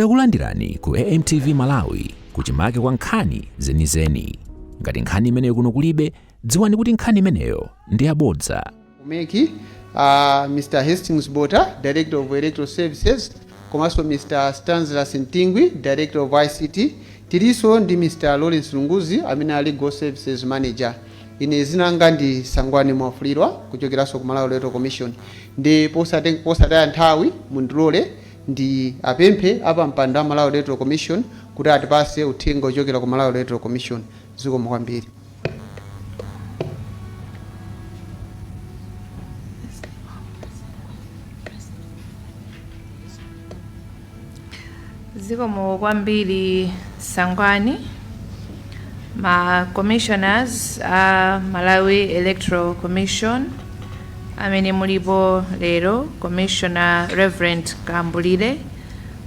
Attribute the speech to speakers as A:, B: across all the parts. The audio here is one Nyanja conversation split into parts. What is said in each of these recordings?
A: Takulandirani ku AMTV Malawi kuchimake kwa nkhani zenizeni. Ngati nkhani imeneyo kuno kulibe, dziwani kuti nkhani imeneyo ndi yabodza. umeki
B: uh, mr hastings bota director of electoral services komanso mr stanslas Ntingwi director of ict tilinso ndi mr lawrence lunguzi amene ali legal services manager ine dzina langa ndi sangwani mwafulirwa kuchokeranso ku malawi electoral commission ndi posate- posataya nthawi mundilole ndiwapemphe apampando a Malawi Electoral Commission kuti atipatse uthenga ochokera ku Malawi Electoral Commission. Zikomo kwambiri.
C: Zikomo kwambiri Sangwani. ma commissioners a Malawi Electoral Commission amene mulipo lero Commissioner Reverend Kambulire,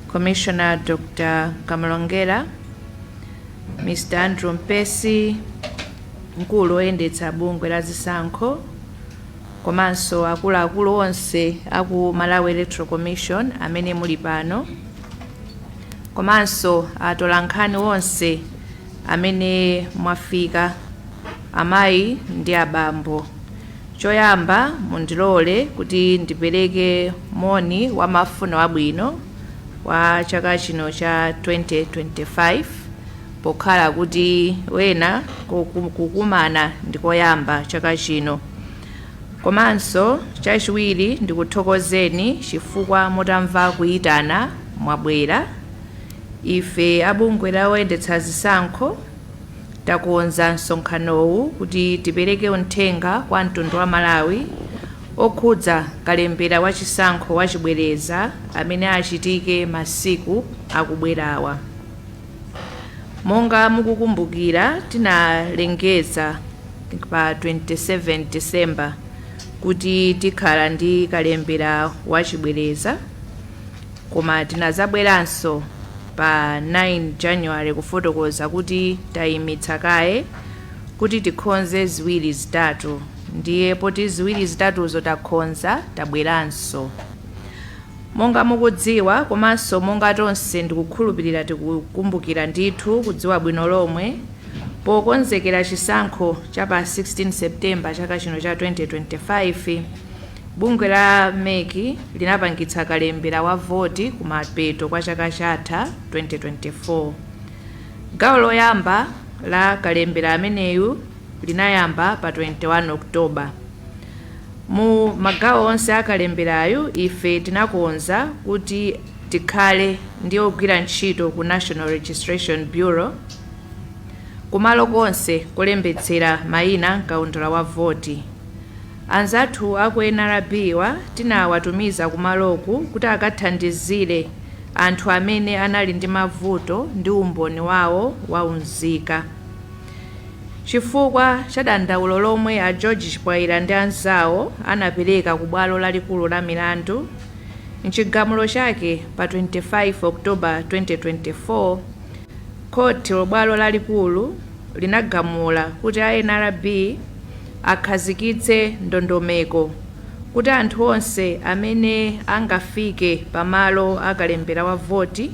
C: Commissioner Dr. Kamlongera, Mr. Andrew Mpesi, mkulu oyendetsa bungwe la zisankho komanso akuluakulu onse aku Malawi Electoral Commission amene muli pano. komanso atolankhani onse amene mwafika, amayi ndi abambo. Choyamba mundilole kuti ndipereke moni wa mafuno abwino wa chaka chino cha 2025 pokhala kuti wena kukumana ndikoyamba chaka chino. Komanso chachiwiri ndikuthokozeni chifukwa mutamva kuyitana mwabwera. Ife a bungwe loyendetsa zisankho takonza msonkhanowu kuti tipereke uthenga kwa mtundu wa aMalawi okhudza kalembera wa chisankho wachibwereza amene achitike masiku akubwerawa. Monga mukukumbukira, tinalengeza pa 27 December kuti tikhala ndi kalembera wachibwereza koma tinazabweranso pa 9 January kufotokoza kuti taimitsa kaye kuti tikhonze ziwiri zitatu ndiye poti ziwiri zitatuzo takhonza tabweranso. Monga mukudziwa komanso monga tonse ndikukhulupirira tikukumbukira ndithu kudziwa bwino lomwe, pokonzekera chisankho cha pa 16 September chaka chino cha 2025, bungwe la MEC linapangitsa kalembera wa voti kumapeto kwa chaka chatha 2024. Gawo loyamba la kalembera ameneyu linayamba pa 21 October. Mu magawo onse a kalemberayu, ife tinakonza kuti tikhale ndi ogwira ntchito ku National Registration Bureau kumalo konse kolembetsera maina m'kaundula wa voti. Anzathu a ku NRB-wa tinawatumiza kumaloku kuti akathandizire anthu amene anali ndi mavuto ndi umboni wawo wa unzika. chifukwa cha dandaulo lomwe a George Chipwaila ndi anzawo anapereka ku bwalo lalikulu la milandu m'chigamulo chake pa 25 October 2024, khothi la bwalo lalikulu linagamula kuti a nrb akhazikitse ndondomeko kuti anthu onse amene angafike pa malo a kalembera wa voti,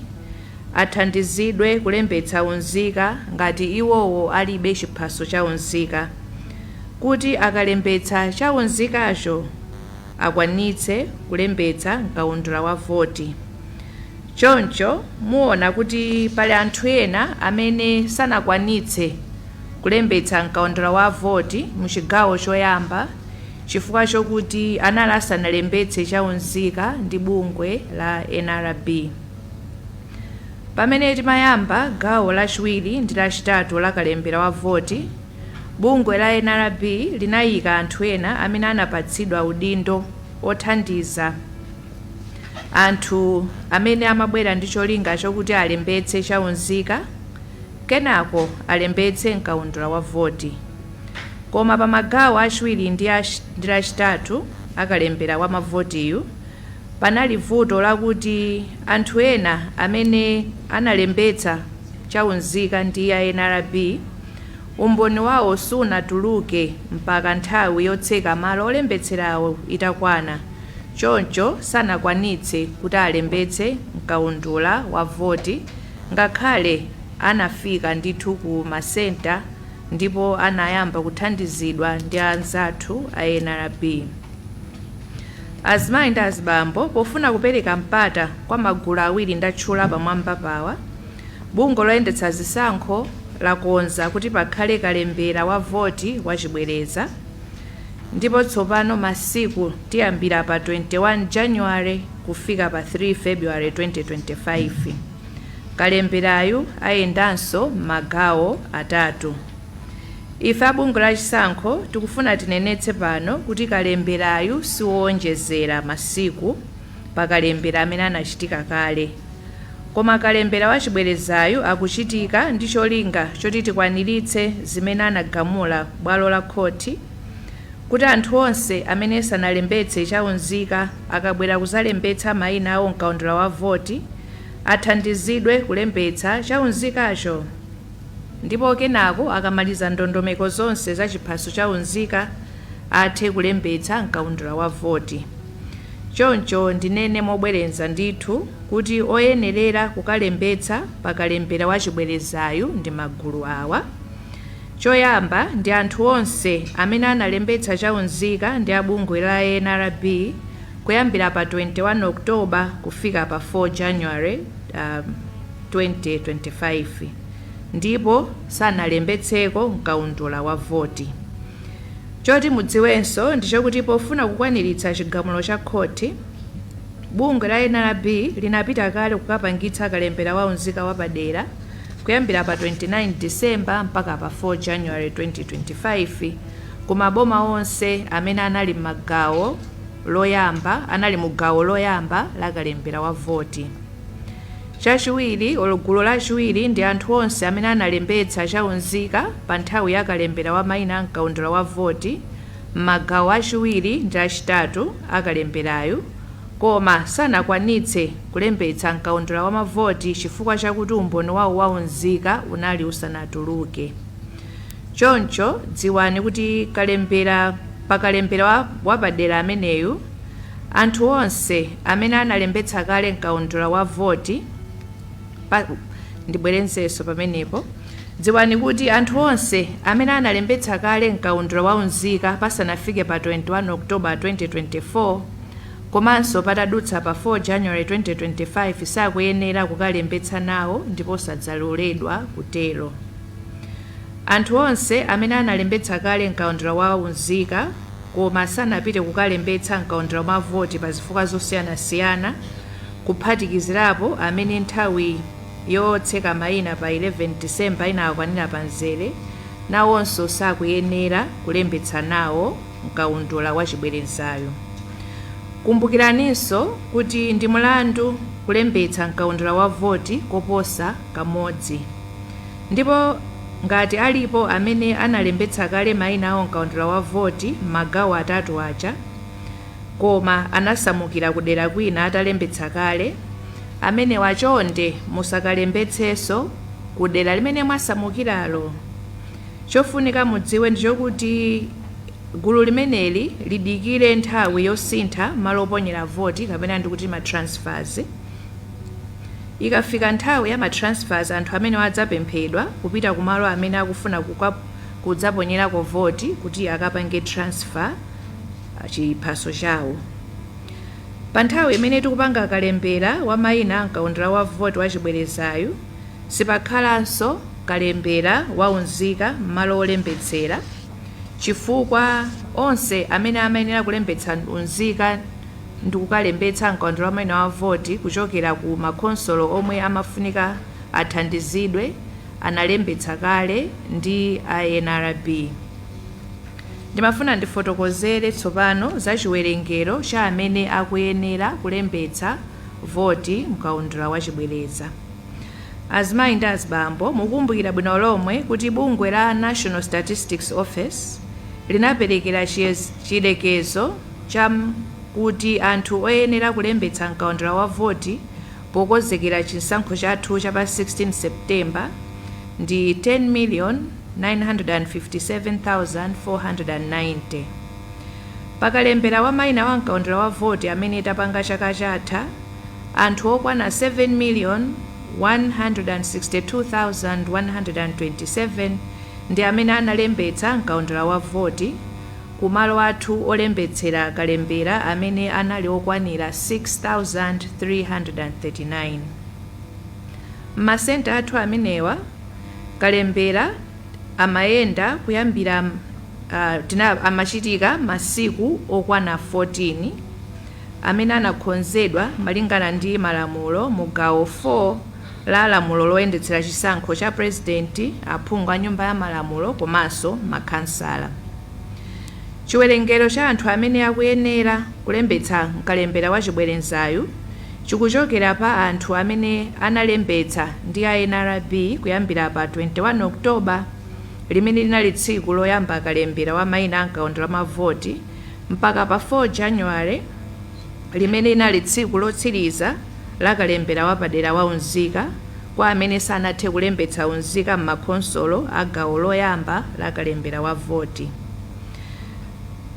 C: athandizidwe kulembetsa unzika ngati iwowo alibe chiphaso cha unzika kuti akalembetsa cha unzikacho akwanitse kulembetsa m'kaundula wa voti. Choncho muona kuti pali anthu ena amene sanakwanitse kulembetsa m'kaundula wa voti mu chigawo choyamba chifukwa chokuti anali asanalembetse cha unzika ndi bungwe la nrb. Pamene timayamba gawo lachiwiri ndi lachitatu la kalembera wa voti, bungwe la nrb linayika anthu ena amene anapatsidwa udindo othandiza anthu amene amabwera ndi cholinga chokuti alembetse cha unzika kenako alembetse m'kaundula wa voti. Koma pa magawo achiwiri ndi lachitatu a kalembera wa mavotiyu, Panali vuto lakuti anthu ena amene analembetsa cha unzika ndi a nrb umboni wawo sunatuluke mpaka nthawi yotseka malo olembetserawo itakwana choncho sanakwanitse kuti alembetse mkaundula wa voti ngakhale anafika ndithu ku ma centre ndipo anayamba kuthandizidwa ndi anzathu a nrb. Azimayi ndi azibambo pofuna kupereka mpata kwa magulu awiri ndatchula pamwambapawa, bungwe loyendetsa zisankho lakonza kuti pakhale kalembera wa voti wachibwereza ndipo tsopano masiku tiyambira pa 21 January kufika pa 3 February 2025. Kalemberayu ayendanso m'magawo atatu. Ife a bungwe la chisankho tikufuna tinenetse pano kuti kalemberayu si woonjezera masiku pa kalembera amene anachitika kale koma kalembera wachibwerezayu akuchitika ndi cholinga choti tikwaniritse zimene anagamula bwalo la khothi kuti anthu onse amene sanalembetse cha unzika akabwera kuzalembetsa maina awo m'kaundula wa voti athandizidwe kulembetsa cha unzikacho. ndipo kenako akamaliza ndondomeko zonse za chiphaso cha unzika athe kulembetsa m'kaundula wa voti. Choncho ndinene mobwereza ndithu kuti oyenerera kukalembetsa pa kalembera wa chibwerezayu ndi magulu awa, Choyamba ndi anthu onse amene analembetsa cha unzika ndi a bungwe la NRB, Kuyambira pa 21 October kufika pa 4 January, 2025 ndipo sanalembetseko m'kaundula wa voti. Choti mudziwenso ndichokuti pofuna kukwaniritsa chigamulo cha khothi, bungwe la NRB linapita kale kukapangitsa kalembera wa unzika wapadera kuyambira pa 29 December mpaka pa 4 January, 2025. ku maboma onse amene anali m'gawo loyamba anali mu gawo loyamba la kalembera wa voti. Chachiwiri olo gulu lachiwiri ndi anthu onse amene analembetsa cha unzika pa nthawi ya kalembera wa maina a mkaundula wa voti m'magawo achiwiri ndi achitatu a kalemberayu koma sanakwanitse kulembetsa mkaundula wa mavoti chifukwa chakuti umboni wao wa unzika unali usanatuluke. Choncho dziwani kuti kalembera pa kalembera wapadera ameneyu, anthu onse amene analembetsa kale m'kaundula wa voti pa, ndibwerezenso pamenepo, dziwani kuti anthu onse amene analembetsa kale m'kaundula wa unzika pasanafike pa 21 October 2024 komanso patadutsa pa 4 January 2025 sakuyenera kukalembetsa nawo ndipo sadzaloledwa kutero. Anthu onse amene analembetsa kale m'kaundula wa unzika koma sanapite kukalembetsa m'kaundula wa voti pa zifukwa zosiyanasiyana, kuphatikizirapo amene nthawi yotseka maina pa 11 December inawakwanira pa mzere, nawonso sakuyenera kulembetsa nawo m'kaundula wa chibwerezayu. Kumbukiraninso kuti ndi mulandu kulembetsa m'kaundula wa voti koposa kamodzi. Ndipo ngati alipo amene analembetsa kale maina awo m'kaundula wa voti m'magawo atatu aja koma anasamukira kudera kwina atalembetsa kale, amenewa chonde musakalembetsenso kudera limene mwasamukiralo. Chofunika mudziwe ndi chokuti gulu limeneli lidikire nthawi yosintha malo oponyera voti kapena ndi kuti ma transfers. Ikafika nthawi ya ma transfers anthu amenewa adzapemphedwa kupita ku malo amene akufuna kudzaponyerako voti kuti akapange transfer chiphaso chawo. Pa nthawi imene tikupanga kalembera wa maina a m'kaundula wa voti wa chibwerezayu, sipakhalanso kalembera wa unzika m'malo wolembetsera chifukwa onse amene amayenera kulembetsa unzika, ndikukalembetsa mkaundula wa maina wa voti kuchokera ku makhonsolo omwe amafunika athandizidwe analembetsa kale ndi a NRB. Ndimafuna ndifotokozere tsopano za chiwerengero cha amene akuyenera kulembetsa voti mkaundula wa chibwereza. Azimayi ndi azibambo mukukumbukira bwino lomwe kuti bungwe la National Statistics Office linaperekera chiyerekezo, cha kuti anthu oyenera kulembetsa mkaundula wa voti pokonzekera chisankho chathu cha pa 16 September ndi 10,957,490. Pa kalembera wa maina wa mkaundula wa voti amene tapanga chaka chatha, anthu okwana 7,162,127 ndi amene analembetsa mkaundula wa voti, ku malo athu olembetsera kalembera amene anali okwanira 6,339. M'masenta athu amenewa, kalembera amayenda kuyambira tina amachitika masiku okwana 14, amene anakonzedwa malingana ndi malamulo mu gawo 4, la lamulo loyendetsera chisankho cha Purezidenti, aphungu a Nyumba ya Malamulo komanso makhansala. Chiwerengero cha anthu amene akuyenera kulembetsa m'kalembera wa chibwerezayu chikuchokera pa anthu amene analembetsa ndi a NRB kuyambira pa 21 October, limene linali tsiku loyamba kalembera wa maina a m'kaundula wa mavoti, mpaka pa 4 January, limene linali tsiku lotsiriza la kalembera wapadera wa unzika kwa amene sanathe kulembetsa unzika m'makhonsolo a gawo loyamba la kalembera wa voti.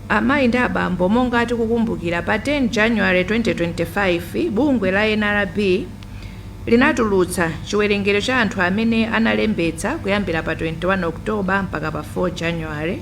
C: Amayi ndi abambo, monga tikukumbukira, pa 10 January 2025, bungwe la NRB linatulutsa chiwerengero cha anthu amene analembetsa kuyambira pa 21 October mpaka pa 4 January,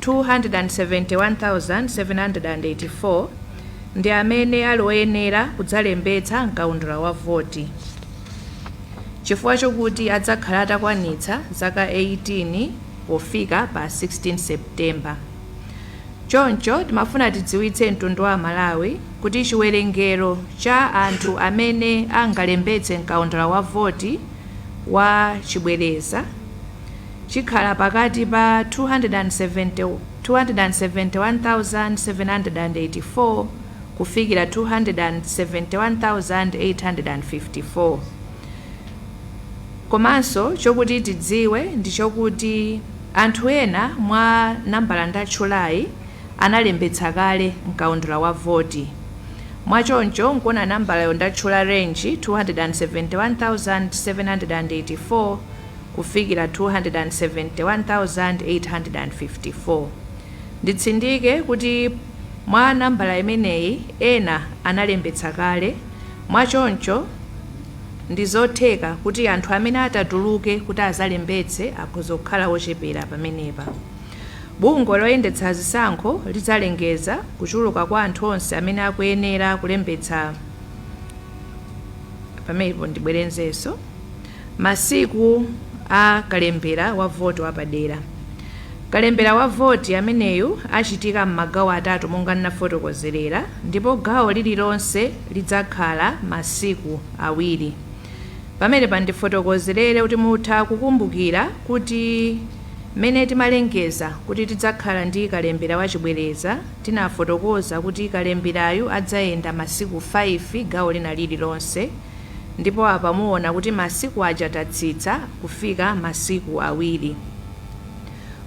C: 271,784 ndi amene ali oyenera kudzalembetsa m'kaundula wa voti chifukwa chokuti adzakhala atakwanitsa zaka 18 pofika pa 16 September. Choncho, timafuna tidziwitse mtundu wa Amalawi kuti chiwerengero cha anthu amene angalembetse m'kaundula wa voti wa chibwereza, chikhala pakati pa 271,784 kufikira 271,854, komanso chokuti tidziwe ndi chokuti anthu ena mwa nambala ndatchulayi analembetsa kale m'kaundula wa voti, mwa choncho nkuona nambalayo ndatchula range 271,784, kufikira 271,854. Nditsindike kuti mwa nambala imeneyi ena analembetsa kale, mwachoncho ndizotheka kuti anthu amene atatuluke kuti azalembetse akhoza kukhala ochepera pamenepa. Bungwe loyendetsa zisankho lidzalengeza kuchuluka kwa anthu onse amene akuyenera kulembetsa pa. Masiku a kalembera wa voti wapadera. Kalembera wa voti ameneyu achitika m'magawo atatu monga ndinafotokozerera ndipo gawo lililonse lidzakhala masiku awiri. Pamenepa ndifotokozerere kuti mutha kukumbukira kuti mmene timalengeza kuti tidzakhala ndi kalembera wa chibwereza tinafotokoza kuti kalemberayu adzayenda masiku 5 gawo lina lililonse. Ndipo apa muona kuti masiku aja tatsitsa kufika masiku awiri.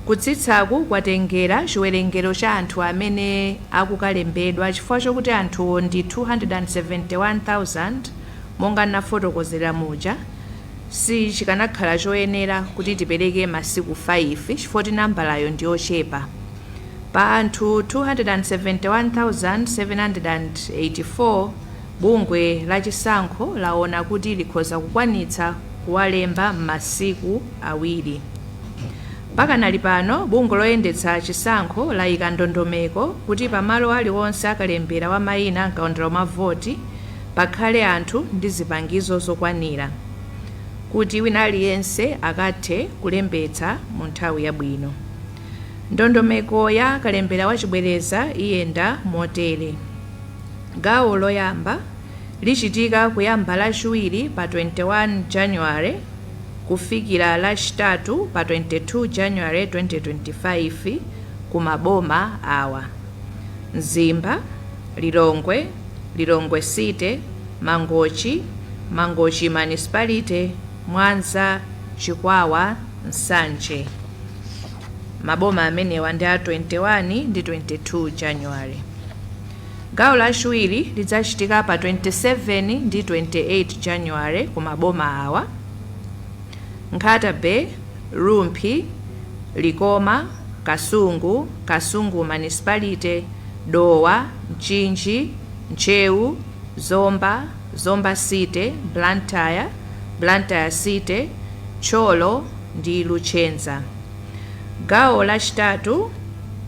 C: Kutsitsaku kwatengera chiwerengero cha anthu amene akukalembedwa chifukwa chokuti anthuwo ndi 271,000 monga ndinafotokozera muja, sichikanakhala choyenera kuti tipereke masiku 5 chifukwa choti nambalayo ndi yochepa. Pa anthu 271,784. Bungwe la chisankho laona kuti likhoza kukwanitsa kuwalemba m'masiku awiri. Pakanali pano, bungwe loyendetsa chisankho layika ndondomeko kuti pa malo aliwonse a kalembera wa mayina m'kaundula wa voti pakhale anthu ndi zipangizo zokwanira kuti wina aliyense akathe kulembetsa mu nthawi yabwino. Ndondomeko ya kalembera wachibwereza iyenda motere. Gawo loyamba lichitika kuyamba lachiwiri pa 21 January kufikira lachitatu pa 22 January 2025 ku maboma awa, Mzimba, Lilongwe, Lilongwe City, Mangochi, Mangochi Municipality, Mwanza, Chikwawa, Nsanje. Maboma amenewa ndi a 21 ndi 22 January. Gawo lachiwiri lidzachitika pa 27 ndi 28 January ku maboma awa, Nkhata Bay, Rumphi, Likoma, Kasungu, Kasungu Municipality, Dowa, Mchinji, Ntcheu, Zomba, Zomba City, Blantyre, Blantyre City, Thyolo ndi Luchenza. Gawo lachitatu.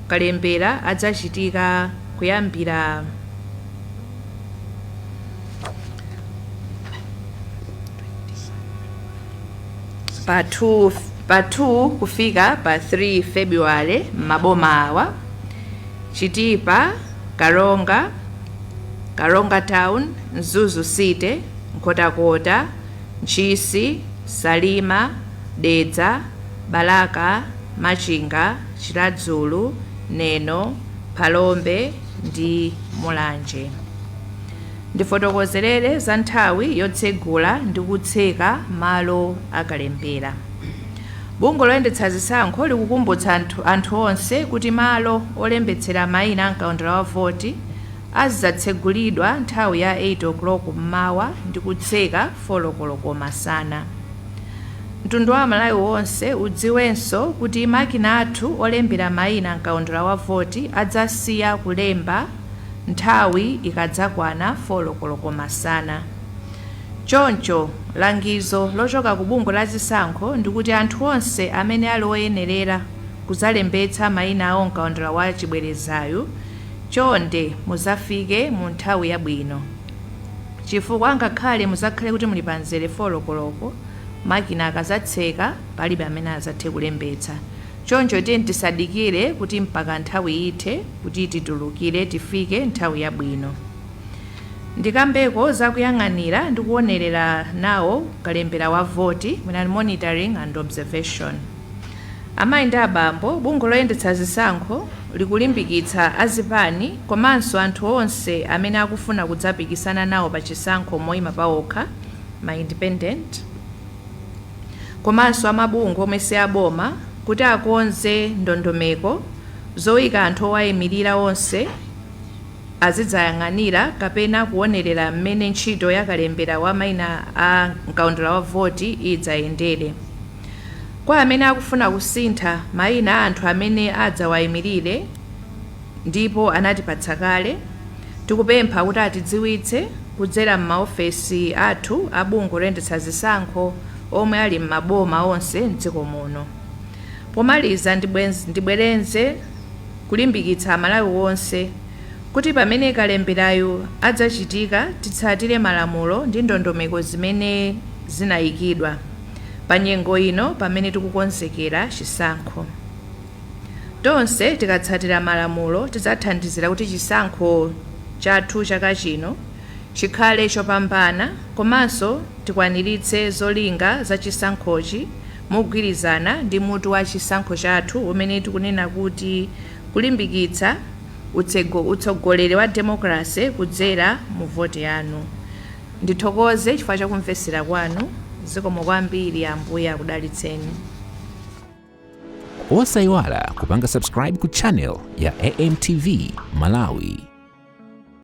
C: kalembera adzachitika kuyambira pa 2 kufika pa 3 February m'maboma awa Chitipa, Karonga, Karonga Town, Mzuzu City, Nkhotakota, Ntchisi, Salima, Dedza, Balaka, Machinga, Chiradzulu, Neno, Phalombe ndi Mulanje. Ndifotokozerere za nthawi yotsegula ndi kutseka malo a kalembera. Bungwe loyendetsa zisankho likukumbutsa anthu onse kuti malo olembetsera maina a mkaundula wa voti azidzatsegulidwa nthawi ya 8 koloko mmawa ndi kutseka folo koloko masana. Mtundu wa Amalawi wonse udziwenso kuti makina athu olembera maina m'kaundula wa voti adzasiya kulemba nthawi ikadzakwana folo koloko masana. Choncho, langizo lochoka ku bungwe la zisankho ndikuti anthu onse amene ali oyenerera kuzalembetsa maina awo m'kaundula wa chibwerezayu, chonde muzafike mu nthawi yabwino. Chifukwa ngakhale mudzakhale kuti muli pa mzere 4 koloko, makina akazatseka palibe amene azathe kulembetsa. Choncho tiyeni tisadikire kuti mpaka nthawi ithe kuti titulukire tifike nthawi yabwino. Ndikambeko za kuyang'anira ndi kuonelera nawo kalembera wa voti, mwina monitoring and observation. Amayi ndi abambo, bungwe loyendetsa zisankho likulimbikitsa a zipani komanso anthu onse amene akufuna kudzapikisana nawo pa chisankho moyima paokha, ma independent, komanso a mabungwe omwe si aboma kuti akonze ndondomeko zoika anthu owayimirira onse azidzayang'anira kapena kuwonerera m'mene ntchito ya kalembera wa maina a m'kaundula wa voti idzayendere. Kwa amene akufuna kusintha maina a anthu amene adzawaimirire ndipo anatipatsa kale, tikupempha kuti atidziwitse kudzera m'maofesi athu a bungwe loyendetsa zisankho omwe ali m'maboma onse m'dziko muno. Pomaliza ndibwerenze kulimbikitsa Amalawi onse kuti pamene kalemberayu adzachitika titsatire malamulo ndi ndondomeko zimene zinaikidwa. pa nyengo ino pamene tikukonzekera chisankho. Tonse tikatsatira malamulo tidzathandizira kuti chisankho chathu chaka chino chikhale chopambana komanso tikwaniritse zolinga za chisankhochi mogwirizana ndi mutu wa chisankho chathu umene tikunena kuti Kulimbikitsa Utsogoleri wa Demokalase Kudzera mu Voti Yanu. Ndithokoze chifukwa cha kumvetsera kwanu. Zikomo kwambiri. Ambuye akudalitseni.
A: Osaiwala kupanga subscribe ku channel ya AMTV Malawi.